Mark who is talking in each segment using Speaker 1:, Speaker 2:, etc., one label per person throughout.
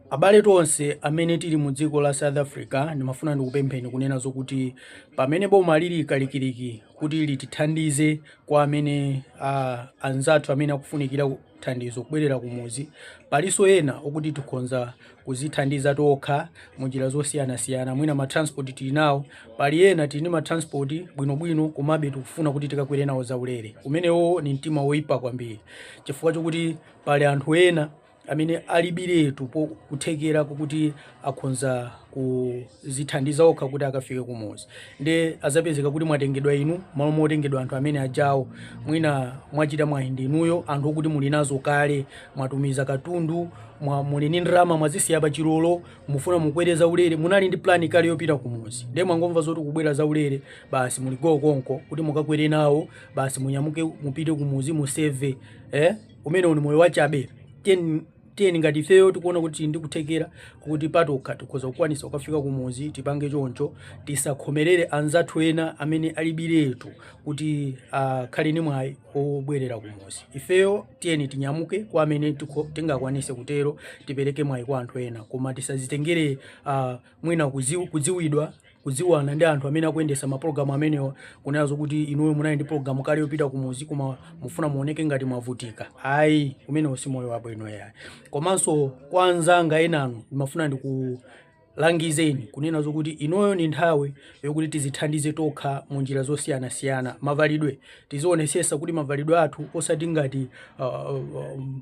Speaker 1: Abale tonse amene tili mu dziko la South Africa ndimafuna ndikupempheni kunena zokuti pamene boma lili kalikiliki kuti litithandize kwa amene uh, anzathu amene akufunikira thandizo kubwerera kumuzi palinso ena okuti tikhonza kuzithandiza tokha mu njira zosiyanasiyana mwina matransport tili nawo pali ena tili ndi matransport bwinobwino komabe tikufuna kuti tikakwere nawo zaulere umenewo ni mtima woyipa kwambiri chifukwa chokuti pali anthu ena amene alibiretu po- kuthekera kokuti akhonza kuzithandiza okha kuti akafike kumuzi nde zapezeka kuti mwatengedwa inu malo motengedwa anthu amene ajawo mwina mwachita mwayi ndinuyo anthu okuti muli nazo kale mwatumiza katundu mwa muli ni ndalama mwazisiya pa chilolo mufuna mukwere zaulere munali ndi plani kale yopita kumuzi nde mwangomva zoti kubwera zaulere basi muli go konko kuti mukakwere nawo basi munyamuke mupite kumuzi museve eh? umenewo ni moyo wachabe tiyeni tiyeni ngati ifeyo tikuona kuti tili ndi kuthekera kuti patokha tikhoza kukwanisa kukafika kumuzi tipange choncho tisakhomerere anzathu ena amene alibiretu kuti akhale ni mwayi obwerera kumuzi ifeyo tiyeni tinyamuke kwa amene tikho- tingakwanise kutero tipereke mwayi kwa anthu ena koma tisazitengere ah, mwina kudziw- kudziwidwa kudziwana ndi anthu amene akuyendesa mapulogalamu amenewa kunena zokuti inuyo munali ndi pulogalamu kale yopita kumuzi koma mufuna muoneke ngati mwavutika ayi umenewo si moyo wabwino yayi komanso kwa anzanga enanu ndimafuna ndikulangizeni kunena zokuti inoyo ni nthawi yokuti tizithandize tokha mu njira zosiyanasiyana mavalidwe tizionesesa kuti mavalidwe athu osati ngati uh, um,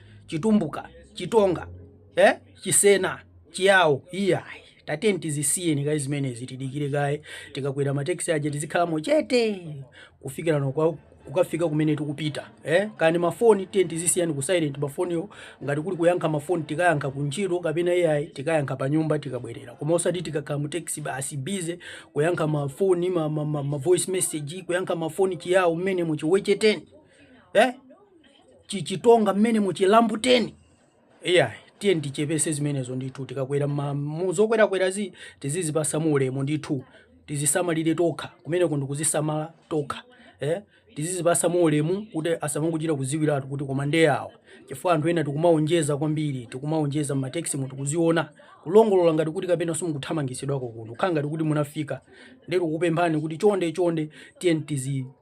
Speaker 1: chitumbuka chitonga eh? chisena chiyawo iyayi tiyeni tizisiyeni kaye zimenezi tidikire kaye tikakwera mateksi aja tizikhalamo chete kufikira nokwa kukafika kumene tikupita eh? kani mafoni tiyeni tizisiyani ku silent mafoniwo ngati kuli kuyankha mafoni tikayankha kuntchito kapena ai tikayankha pa nyumba tikabwerera koma osati tikakhala mu taxi basi bize kuyankha mafoni ma, ma, ma, ma voice message kuyankha mafoni chiyawo mmene muchiwecheteni eh? chichitonga mmene muchilambuteni iya tiyeni tichepese zimenezo ndithu tikakwera ma- mu- zokwerakwerazi tizizipasa ulemu ndithu tizisamalire tokha kumeneko ndikuzisamala tokha eh? tizizipasa ulemu kuti asamangochita kuziwiratu kuti koma nde awa chifukwa anthu ena tikumaonjeza kwambiri tikumaonjeza mmateksimu tikuziona kulongolola ngati kuti kapena simukuthamangitsidwako kuno kukhala ngati kuti munafika ndikupemphani kuti chonde chonde tiye tizi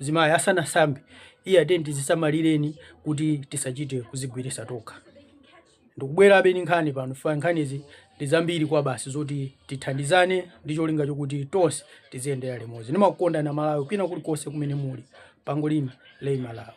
Speaker 1: Mzimayi asanasambe, iya tiyeni tizisamalireni kuti tisachite kuzigwirisa tokha. Ndikubwerabe ndi nkhani pano chifukwa nkhanizi ndi zambiri kwa basi zoti tithandizane ndi cholinga chokuti tonse tiziyendera limodzi. Ndimakukondani Amalawi kwina kulikonse kumene muli. Pangolin Lay Malawi.